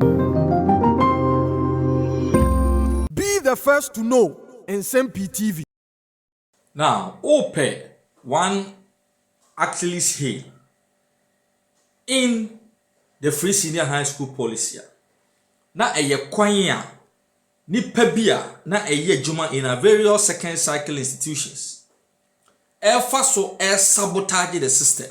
Be the first to know Nsɛm Pii TV. Na wopɛ one Achilles heel in the Free Senior High School policy a, na ɛyɛ kwan a nnipa bi a na ɛyɛ adwuma in a various second cycle institutions ɛrefa so ɛresabotage the system.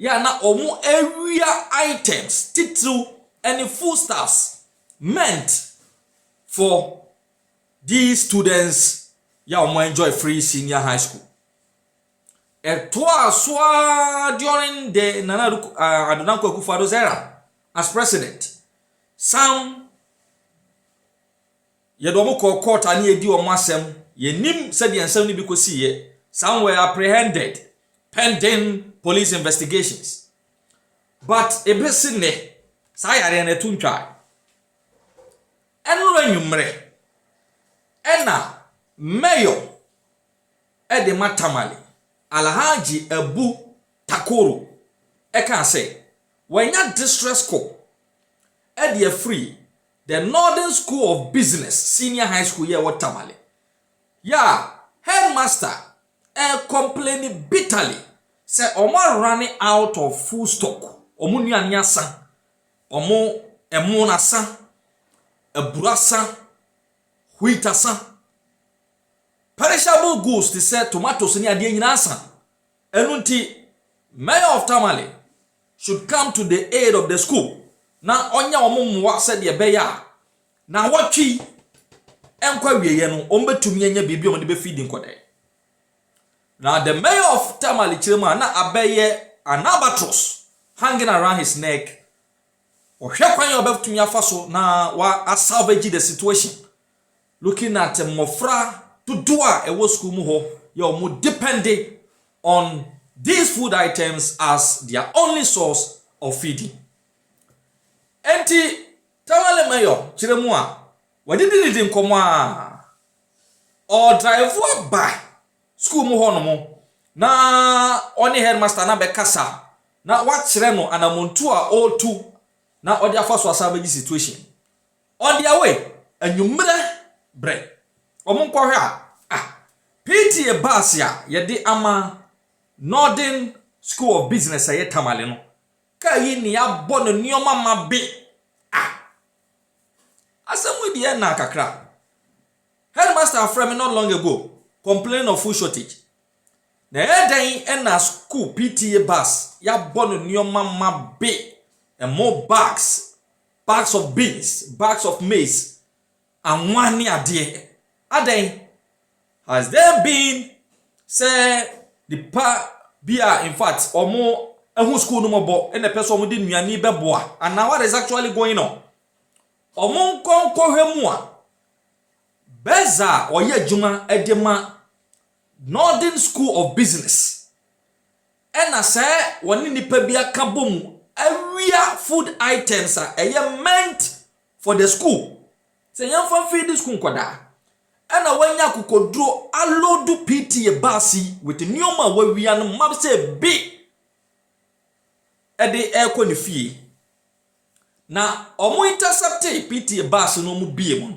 yɛ a na wɔawia items titiriw ne foodstuffs meant for these students yɛ a wɔn enjoy free senior high school. Ɛtoaa so ara during the Nana uh, Ado Dankwa Akufo-Addo's era as president. Some Yɛde wɔn kɔɔ court a na yɛredi wɔn asɛm. Yɛnnim sɛdeɛ nsɛm no bi kɔsiiɛ. Some were apprehended pending police investigations. But ɛbɛsi nnɛ, saa yareɛ no ɛto ntwa. Ɛnora anwummerɛ, ɛna mayor ɛde ma Tamale, Alhaji Abu Takoro, ɛkaa sɛ, wanya distress call ɛde afiri The Northern School of Business Senior High School yi a ɛwɔ Tamale yɛ a headmaster rekɔmpleni bitterly sɛ wɔn arane out of full stock, wɔn nnuane asa, wɔn ɛmo asa, aburo asa, wheat asa, perishable goods te sɛ tomatoes ne adeɛ nyinaa asa. Ɛno nti, Mayor of Tamale should come to the aid of the school na ɔnyɛ wɔn mmoa sɛdeɛ ɛbɛyɛ a naawɔtwe yi nkɔ awieɛ no wɔbɛtumi anya biribi a wɔde bɛfidi nkɔdɛn. Now the mayor of Tamale Chirema na abɛyɛ an albatross hanging around his neck ɔhwɛ kwan a ɔbɛtumi afa so na wa salvage the situation Looking at mmɔfra dodoɔ a ɛwɔ sukuu mu hɔ yɛ wɔn depende on these food items as their only source of feeding. Enti Tamale Mayor kyerɛ mu a wɔadidididi nkɔmmɔ a ɔdrive aba sukuu mu hɔ nom na ɔne headmaster no abɛkasa na wakyerɛ no anamontuo a ɔretu na ɔde afa so asan abɛgye situation. Ɔde awoe anwummere bere. Wɔnkɔhwɛ a, ah, PTA bus a yɛde ama Northern School of Business a ɛyɛ Tamale no, kaa yi na yɛabɔ no nneɛma ma be. Ah, asɛm yi deɛ na kakra. Headmaster afrɛ me not long ago, complaining of food shortage. Na ɛyɛ dɛn na school PTA bus yɛabɔ no nneɛma ma be, ɛmo bags, Bags of beans, bags of maize, anwa ne adeɛ. Adɛn? Has there been sɛ nipa bi a in fact wɔn ahu school no mɔbɔ ɛna ɛpɛ sɛ wɔn de nnuane bɛboa anaa what is actually going on? Wɔn nkɔ nkɔhwɛ mu a Bɛs a ɔyɛ adwuma de ma Northern School of Business. Ɛna sɛ wɔne nnipa bi aka bɔ mu awia food items a ɛyɛ meant for the school sɛ yɛmfa mfeedi school nkwadaa. Ɛna wɔanya akokoduro aloodu PTA bus yi with nneɛma a wɔawia no ma sɛ bi ɛde ɛrekɔ ne fie. Na wɔn intercepte PTA bus no wɔn bie mu no,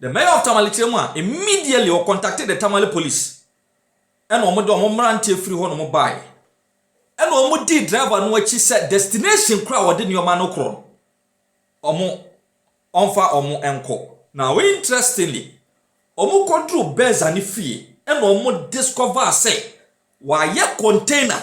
The mayor of Tamale kyerɛ mu a, immediately ɔ contacted the Tamale police ɛna ɔmo de ɔmo mmeranteɛ firi hɔ nom baeɛ ɛna ɔmo dii driver no akyi sɛ destination koro a ɔde nneɛma no korɔ no ɔmo ɔmfa ɔmo nkɔ. Now interestingly, ɔmo kɔduru Beza ne fie ɛna ɔmo discover sɛ wayɛ container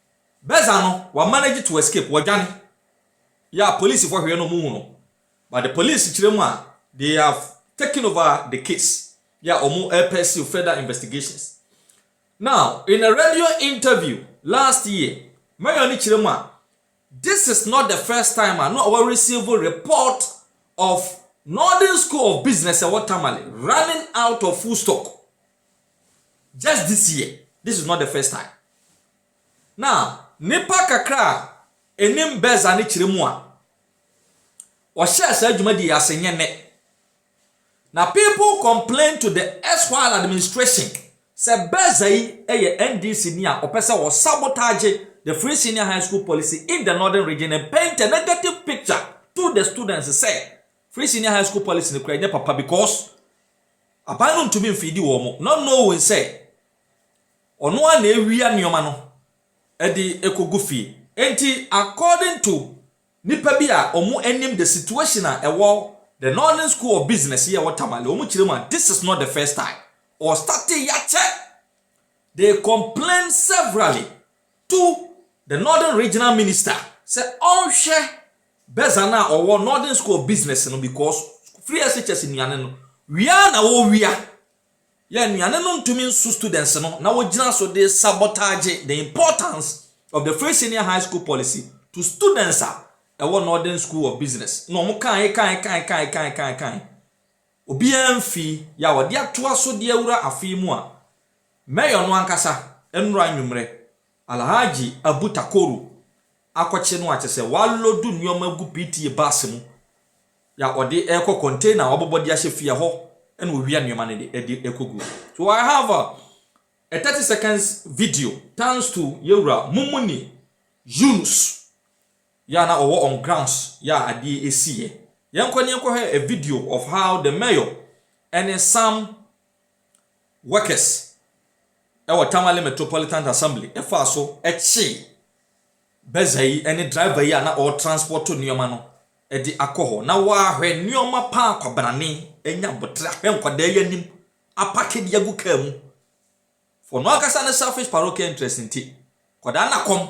Beza no wa manage to escape, wɔdwane. Yeah, polisifo hwɛ na wɔn hu no, but the police kyerɛ mu a, they have taken over the case, yeah, wɔn repursue further investigations. Now, in a radio interview last year, mayor no kyerɛ mu a, this is not the first time a na wa receive report of Northern School of Business ɛwɔ Tamale running out of foodstock. just this year this is not the first time na nipa kakra a enim bɛza ne kyerɛ mu a wɔhyɛ saa dwumadi yɛ ase nyɛ nɛ na people complain to the erstwhile administration sɛ bɛza yi yɛ ndc ni a ɔpɛ sɛ wɔ sabotage the free senior high school policy in the northern region and paint a negative picture to the students sɛ free senior high school policy no kura nyɛ papa because Aban no ntumi mfeedi wɔn, not knowing sɛ ɔno ara na ɛwia nneɛma no de kɔgu fie. Enti according to nnipa bi a wɔn anim the situation a ɛwɔ the Northern School of Business yi a ɛwɔ Tamale, wɔn kyerɛ mu a, this is not the first time, wɔ starte ya kyɛ, they complain severally to the Northern Regional Minister sɛ ɔnhwɛ Beza no a ɔwɔ Northern School of Business no because free SHS nnuane no wia na wɔwia yɛ nnuane no ntumi nso students no na wɔgyina so de sabotage the importance of the free senior high school policy to students a ɛwɔ Northern School of Business na wɔn kan kan kan kan kan kan kan obiara mfi yɛ a wɔde atoa so de awura afei mu a mayor no ankasa nnura nwummerɛ Alhaji Abu Takoru akɔkye no a kyerɛ sɛ wɔaloodu nneɛma agu PTA bus mu na wɔde rekɔ container a wɔabobɔ de ahyɛ fie hɔ na wɔwia nneɛma no de de rekɔgu. So I have a, a 30 seconds video thanks to Yɛwura Mumuni Yunus yɛ na ɔwɔ on grounds yɛ a adeɛ ɛsiiɛ. Yɛnkɔ ne yɛnkɔhwɛ a video of how the mayor ɛne some Workers wɔ Tamale Metropolitan Assembly faa so kyee bɛza yi ne driver yi a na ɔretranspɔto nneɛma no de akɔ hɔ. Na wɔahwɛ nneɛma pa ara kwabrane, anya abotere, ahwɛ nkwadaa yi anim, apake de agu kaa mu. For no ankasa ne selfish parochial interest nti, nkwadaa nna kɔm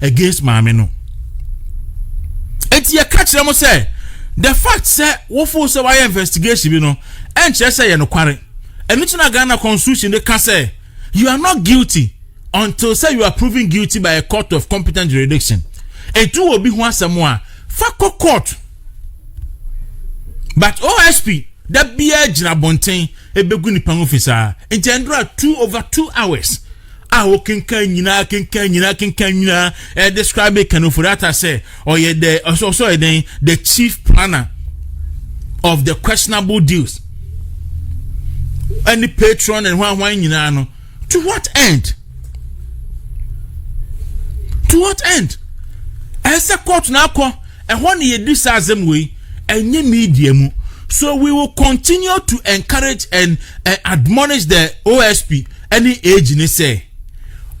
against maame no eti yɛ ka kyerɛ mo sɛ the fact sɛ wofo sɛ wayɛ investigation bi no ɛnkyerɛ sɛ yɛ no kware ɛno ti na ghana constitution de ka sɛ you are not guilty until sɛ you are proven guilty by a court of competent jurisdiction etu wɔ bi ho asɛm a fa kɔ court but osp da biara gyina abɔnten ebegu nipa ho fi saa nti ɛndora two over two hours. a wokenkan nyinaa kenkan nyinaa kenkan nyinaa ɛ describe Ken Ofori-Atta sɛ ɔyɛ the ɔsɛ ɔsɛ ɔyɛ den the chief planner of the questionable deals ɛne patron and hwan hwan nyinaa no to what end to what end ɛsɛ court na akɔ ɛhɔ na yɛdi saa asɛm wei ɛnyɛ media mu so we will continue to encourage and uh, admonish the osp ɛne age ne sɛ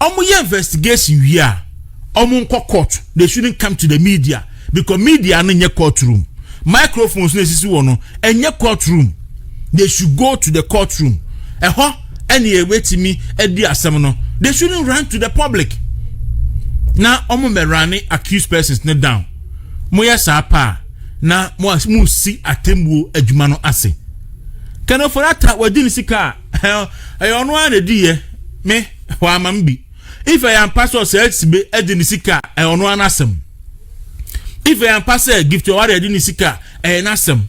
ɔmo yɛ investigation wie a ɔmo nkɔ court they shouldn't come to the media because media no nyɛ court room microphones na esisi wɔ no ɛnyɛ court room they should go to the court room ɛhɔ ɛne ɛbɛtumi adi asɛm no they shouldn't run to the public na ɔmo mɛrane accused persons ne down moyɛ saa paa na mo si atemmuo adwuma no ase kɛnɛfo rata wadi ne sika a ɛyɛ ɔno ara na ɛdi yɛ me hɔ ama m bi if ɛyɛ ampa sɛ ɔsɛ asibe ɛde ne sika a ɛyɛ ɔno ara n'asɛm if ɛyɛ ampa sɛ gift ɔware ɛde ne sika a ɛyɛ n'asɛm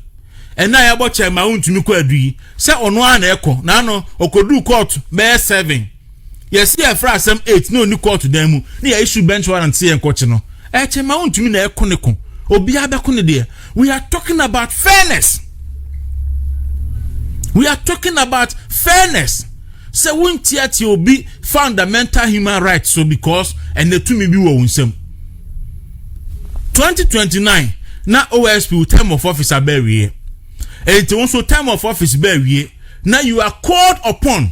ɛna a yɛbɔ kyɛn ma wontumi kɔ adu yi sɛ ɔno ara na ɛkɔ na ano ɔkɔduu kɔɔto bɛyɛ seven Yɛse yɛfrɛ asɛm eight na ɔni kɔɔto dan mu na yɛ issue bench warrant sɛ yɛnkɔkye no. Ɛkyɛ ma wontumi na ɛko ne ko. Obiara bɛko ne deɛ. We are talking about fairness. We are talking about fairness. Sɛ wontiatia obi fundamental human rights so because ɛnɛ tumi bi wɔ wo nsam. 2029 na OSP wo term of office abɛwie. Ɛnti wo nso term of office bɛwie na you are called upon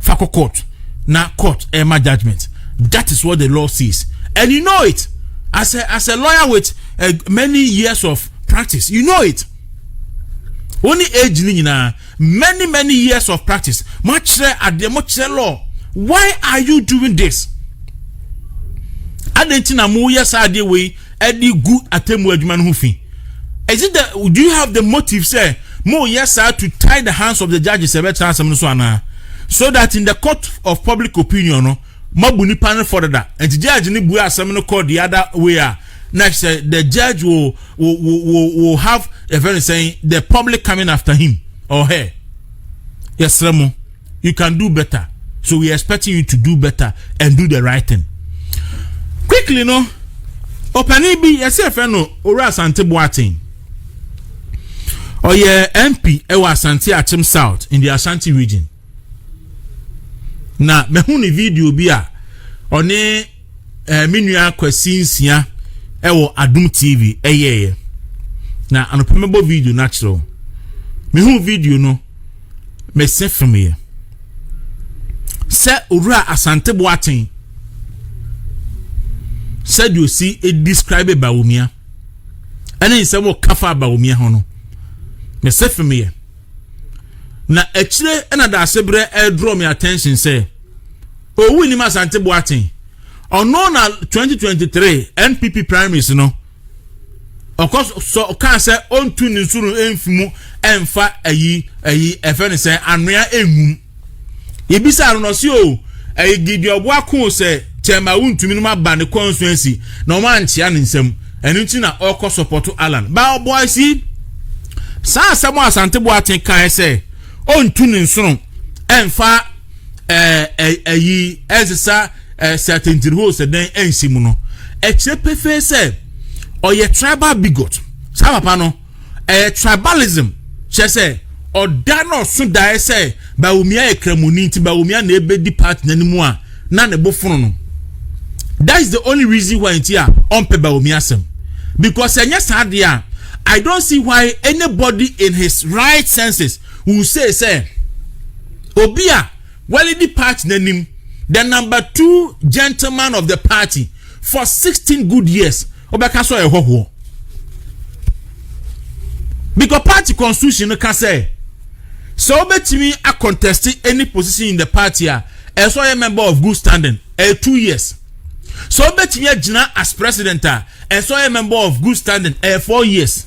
fakɔ court na court ɛma judgement that is what the law says and you know it as a as a lawyer with uh, many years of practice you know it Only age ni nyinaa many many years of practice mo akyerɛ adeɛ mo kyerɛ law why are you doing this adan ti na mo yɛ saa adeɛ wei. ɛde gu atemmu adwuma no ho fi is it the do you have the motive sɛ mo yɛ saa to tie the hands of the judges ɛbɛtena asɛm no so anaa so that in the court of public opinion no mabu nipa no fɔ dada nti judge no bue asɛm no kɔ the other way a na sɛ the judge will will will will have a very saying the public coming after him or her yɛsrɛ mo. you can do better so we expecting you to do better and do the right thing quickly no ɔpanin bi yɛsɛ ɛfɛ no owura asante boaten ɔyɛ mp ɛwɔ asante akyem south in the ashanti region na mɛhu ne video bi a ɔne. ɛɛ me nua Kwasi Nsia ɛwɔ Adum TV ɛyɛɛyɛ na anɔpɛ mɛbɔ video no akyerɛ wo mehu video no mese femeɛ sɛ owura Asante Boaten sɛdeɛ osi describe Bawumia ɛne nsɛm ɔka fa Bawumia ho no mese femeɛ na akyire ɛna daase berɛ ɛdrɔ me attention sɛ Owu nnim Asante Boateng. Ɔno na twenty twenty three NPP primaries no ɔkɔ sɔ kaa sɛ ɔntu ne nsoro mfi mu ɛnfa ayi ayi ɛfɛ ne sɛ anoa ɛngum. Yɛbisa no na ɔsi o ɛyɛ Gideon Boako sɛ kyɛma wontumi no ma ba ne constituency na wɔn ankyea ne nsam. Ɛno nti na ɔkɔ sɔpɔto Alan. Ba ɔbɔa si saa asɛm Asante Boateng kae sɛ ɔntu ne nsoro ɛnfa ɛɛ eh, ɛyi eh, ɛnsesa eh, ɛɛ sɛtɛntiri hɔ sɛ dɛn ɛnsi mu no ɛkyerɛ pefee sɛ ɔyɛ tribal bigot saa papa no ɛyɛ tribalism kyɛ sɛ ɔda na ɔso daeɛ sɛ bawumia yɛ kramoni nti bawumia na ebedi party n'anim a na ne bo fono no that is the only reason why nti a ɔmpɛ bawumia asɛm because ɛnyɛ saa deɛ a i don't see why anybody in his right senses. Who say sɛ obi a walidi party n'anim the number two gentleman of the party for sixteen good years ɔbɛka sɛ ɔyɛ hɔhoɔ because party constitution no ka sɛ sɛ ɔbɛtumi acontest any position in the party a ɛsɛ ɔyɛ member of good standing ɛyɛ two years sɛ ɔbɛtumi agyina as president a ɛsɛ ɔyɛ member of good standing ɛyɛ four years.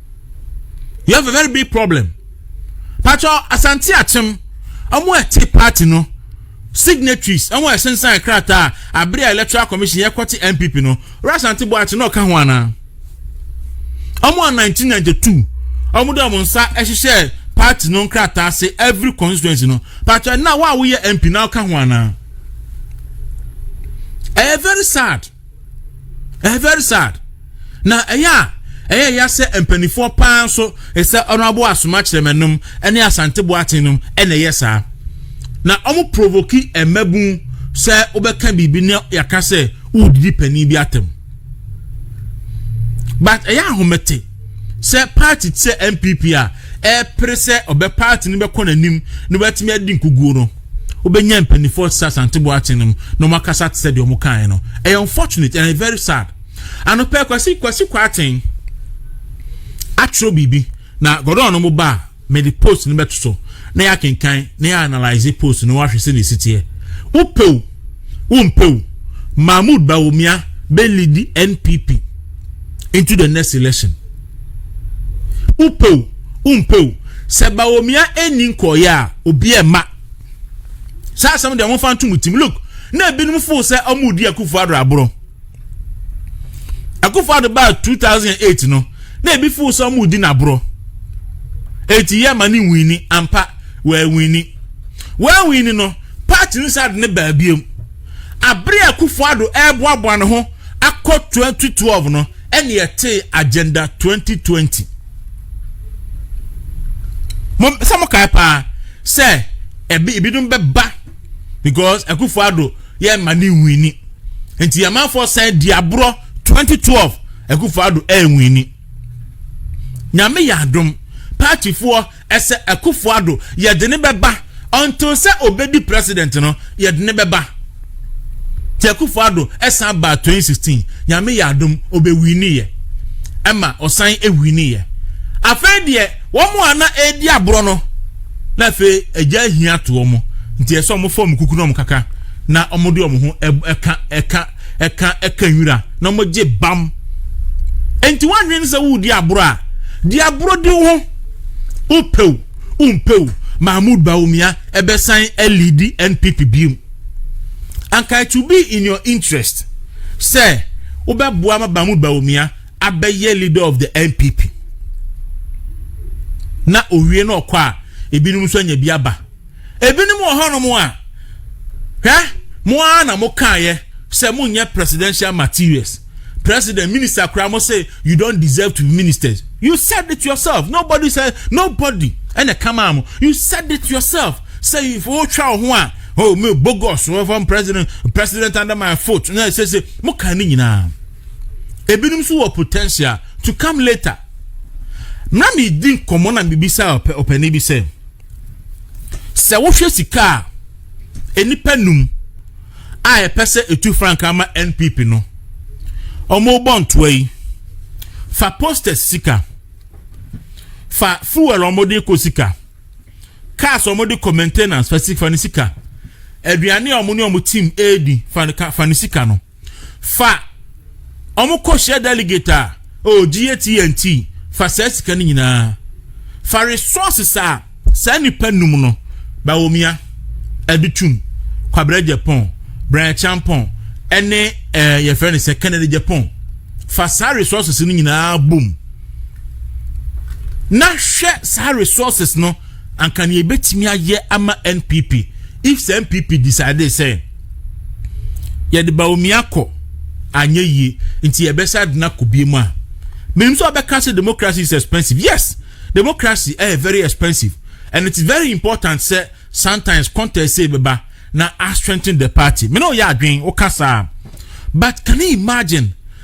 you have a very big problem patro asante akyem ɔmo ɛte party no signatories ɔmo ɛsensan krataa abere a electoral commission yɛ kɔte npp no ɔrɔ asante bɔ akyi na ɔka ho anaa ɔmo a 1992 ɔmo de ɔmo nsa ɛhyehyɛ party no nkrataa ase every constituency no patro ɛna wo a woyɛ mp na ɔka ho anaa ɛyɛ very sad. ɛyɛ very sad na ɛyɛ a ɛyɛ ya sɛ mpanimfoɔ paa nso ɛsɛ ɔno abo asoma kyerɛmɛnom ne asante boaten nom ɛna ɛyɛ saa na wɔn provoki mmabun sɛ wobɛka biribi ne yɛaka sɛ wodidi panin bi atam but ɛyɛ ahomete sɛ party te sɛ npp a ɛrepere sɛ ɔbɛ party no bɛkɔ n'anim na wɔatumi adi nkuguo no wobɛnya mpanimfoɔ te sɛ asante boakye no mu na wɔakasa te sɛ deɛ wɔn kaeɛ no ɛyɛ unfortunate and very sad anɔpɛ kwasi kwasi kwaten atwerɛ biribi na gɔdɔn no mo ba a Mede post no bɛto so na yɛakenkan na yɛanalyse post no ahwɛ sɛnea ɛsi teɛ. Wopɛ o, wompɛ o, Mahmoud Bawumia bɛlidi NPP into the next election. Wopɛ o, wompɛ o, sɛ Bawumia ɛnni nkɔɔeɛ a, obi ɛma. Saa asɛm deɛ momfa nto mo tim. Look, na ebinom fo sɛ ɔmo di Akufo-Addo aborɔ. akufo ado baa 2008 no na ebi fo sɛ ɔmo di n'aborɔ eti yɛ ma ne nwini ampa wɔawini wɔawini no paati no saa de ne baabiem abere akufo ado ɛreboaboa ne ho akɔ 2012 no ɛne ɛte agenda 2020 mo sɛ mo kae paa sɛ ebi ebinom bɛba. because akufo ado yɛ mma ne nwini nti amanfoɔ san di aborɔ 2012 akufo ado ɛnwini nyame yɛ adom paatifoɔ ɛsɛ akufo ado yɛde ne bɛba until sɛ obedi president no yɛde ne bɛba ti akufo ado ɛsan ba 2016 nyame yɛ adom obɛwini yɛ ɛma ɔsan ɛwini yɛ afei deɛ wɔn a na ɛredi aborɔ no Na afei agya ahia ato wɔn nti ɛsɛ wɔn fa wɔn kuku na wɔn kaka na wɔn de wɔn ho ɛka ɛka ɛka ɛka nwura na wɔn gye bam nti wɔn anwene sɛ wɔredi aboro a di aboro di ho wopɛw wompɛw mahmoud bawumia ɛbɛsan ɛlidi npp biom anka it will be in your interest sɛ wobɛboa ma mahmoud bawumia abɛyɛ leader of the npp na owie na ɔkɔ a ebinom nso anya bi aba ebinom wɔ hɔnom a hwɛ mo ara na mo kaayɛ sɛ mo nyɛ presidential materials president minister koraa mo sɛ you don't deserve to be ministers you said it yourself nobody said nobody ɛna kama mo you said it yourself sɛ if wotwa wo ho a oh me bogus from president president under my foot na ɛsɛ sɛ mo kan ne nyinaa. ebinom nso wɔ potential to come later na medi nkɔmmɔ na mebisa ɔpani bi sɛ sɛ wohwɛ sika a nnipa num a ɛpɛ sɛ etu frankaa ma npp no wɔbɔ ntoa yi fa posters sika fa fuel wɔde kɔ sika cars wɔde kɔ maintenance fa sika fa ne sika aduane a wɔn ne wɔn team edi fa ne sika no. fa wɔn kɔ hyɛ delegate a oh gye tnt fa saa sika no nyinaa fa resources a saa nipa num no bawomia adutum kwabra japan brian champon ɛne ɛɛ eh, yɛfrɛ no sɛ kennedy japan fa saa resources no nyinaa bom na hwɛ saa resources no anka nea ebetumi ayɛ ama npp if sɛ npp decide sɛ. yɛde Bawumia kɔ anyɛ yie nti yɛbɛsa adena kɔ bie mu a menim sɛ ɔbɛka sɛ democracy is expensive yes democracy ɛyɛ eh, very expensive and it's very important sɛ sometimes contest sɛ bɛba na a strengthen the party mene ɔyɛ adwen woka saa but can you imagine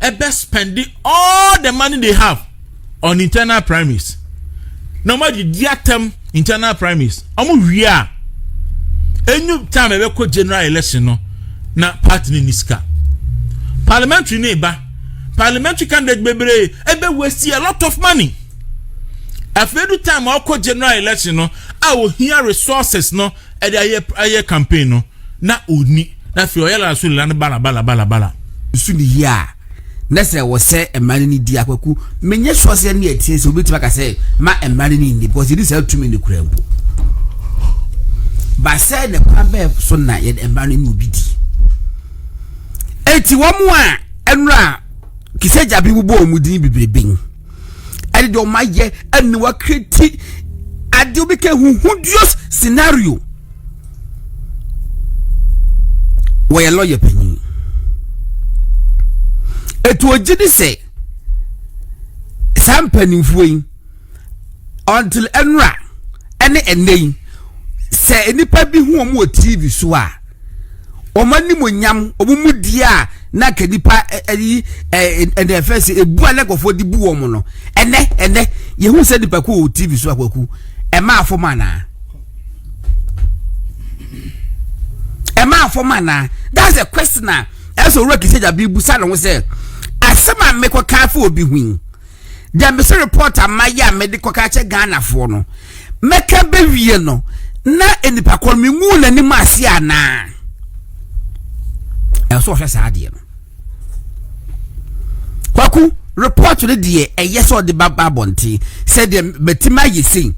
ɛbɛ spɛnde all the money they have on internal primaries na wɔn adi di atɛm internal primaries wɔn wie a enyu time ɛbɛ kɔ general election no na party ne ni sika parliamentary ne ba parliamentary candidate bebree ɛbɛ waste a lot of money afei du time ɔkɔ general election no a ohia resources no ɛde ayɛ ayɛ campaign no na ɔni na afei ɔyɛ lalaso lala no bala bala bala bala nso ne yie a na sɛ wɔsɛ mmaa no ne di akwaku menyɛ soɔ sɛ ne ɛteɛ sɛ wobɛtumi aka sɛ ma mmaa no ne nni because yɛdi saa tumi no kura mpo ba sɛ ne kwan bɛɛ so na yɛde mmaa no ne obi di enti wɔn a ɛnora kisɛ gyabe wobɔ wɔn din bebrebe ɛde deɛ ɔma yɛ ɛna wakreti adeɛ obi ka huhudios scenario wɔyɛ lɔya panyin etu ogye di sɛ saa mpanimfoɔ yi until ɛnura ɛne ɛnɛ yi sɛ nipa bi hu wɔn wɔ tv so a. wɔn animonyam wɔn mu di a na nka nipa ɛyi ɛnna ɛfɛ sɛ ebu a na nkurɔfoɔ de bu wɔn no ɛnɛ ɛnɛ yehu sɛ nipa ko wɔ tv so akwaku ɛma afɔm anaa ɛma afɔm anaa that's the question a ɛsɛ owurɔ kìsɛ gyabi bu sa ne ho sɛ asɛm a mekɔ kaa fo obi hui deɛ mese report a mayɛ a mede kɔka kyɛ ghanafoɔ no mɛka bɛwie no na nipa kɔ no menwu n'anim ase anaa ɛsɛ ɔhwɛ saa adeɛ no kwaku report no deɛ ɛyɛ sɛ ɔde ba ba abɔnten sɛdeɛ matumi ayɛ sei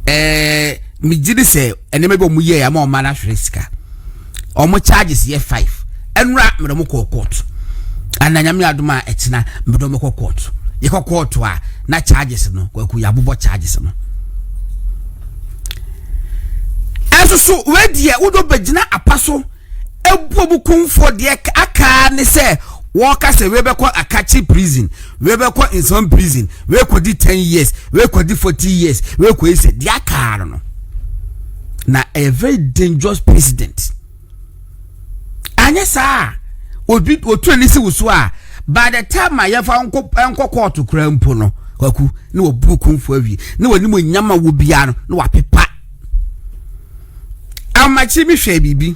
ɛɛ megye ne sɛ ɛnneɛma bi a wɔyɛ ama ɔma no ahwere sika wɔn charges yɛ five ɛnura mmerɛ mo kɔɔ court ana nyame adum a ɛkyina mmerɛ mo kɔ court yɛkɔ court a na charges no kwaku yɛabobɔ charges no ɛso so wɛdeɛ wodɔ bɛgyina apa so ɛbuo mu kumfoɔ deɛ aka ne sɛ wɔka sɛ wɛbɛkɔ akakye prison wɛbɛkɔ nsɛm prison wɛkɔdi ten years wɛkɔdi forty years wɛkɔyi sɛ deɛ aka no no na ɛyɛ very dangerous president anyɛ saa a obi otu ani si wusu a by the time a yɛfa nkɔ nkɔ kɔɔto koraa mpo no kwaku na wɔburu kumfo awie na wɔnim onyama wɔ biara no na wɔapepa amakye mi hwɛ biribi.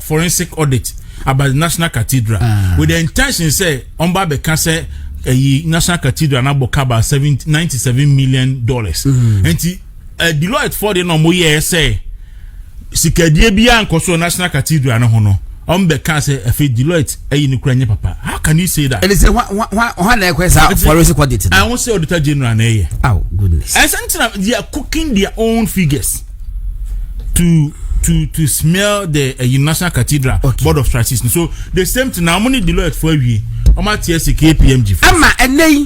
forensic audit about the national cathedral ah. with the intention sɛ ɔmba abɛka sɛ ɛyi national cathedral na bɔ kaba seven ninety seven million dollars mm. nti uh, deloitte fɔ de na ɔmo yɛ sɛ sikadie bi a nkɔ so national cathedral no ho no ɔmo bɛ ka sɛ ɛfɛ deloitte ɛyi ne kura nye papa how can you say that. ɛni sɛ wa wa wa ɔha na ɛkɔ ɛsɛ forensic audit. ɛhun sɛ auditor general na ɛyɛ. aw goodness. ɛsɛ n tɛna they are cooking their own figures. to to to smear the uh, national cathedral okay. board of trustees so the same thing na wɔn ne deloitte fo awie wɔn ate ase kpmg fo. ɛma ɛnɛ yi.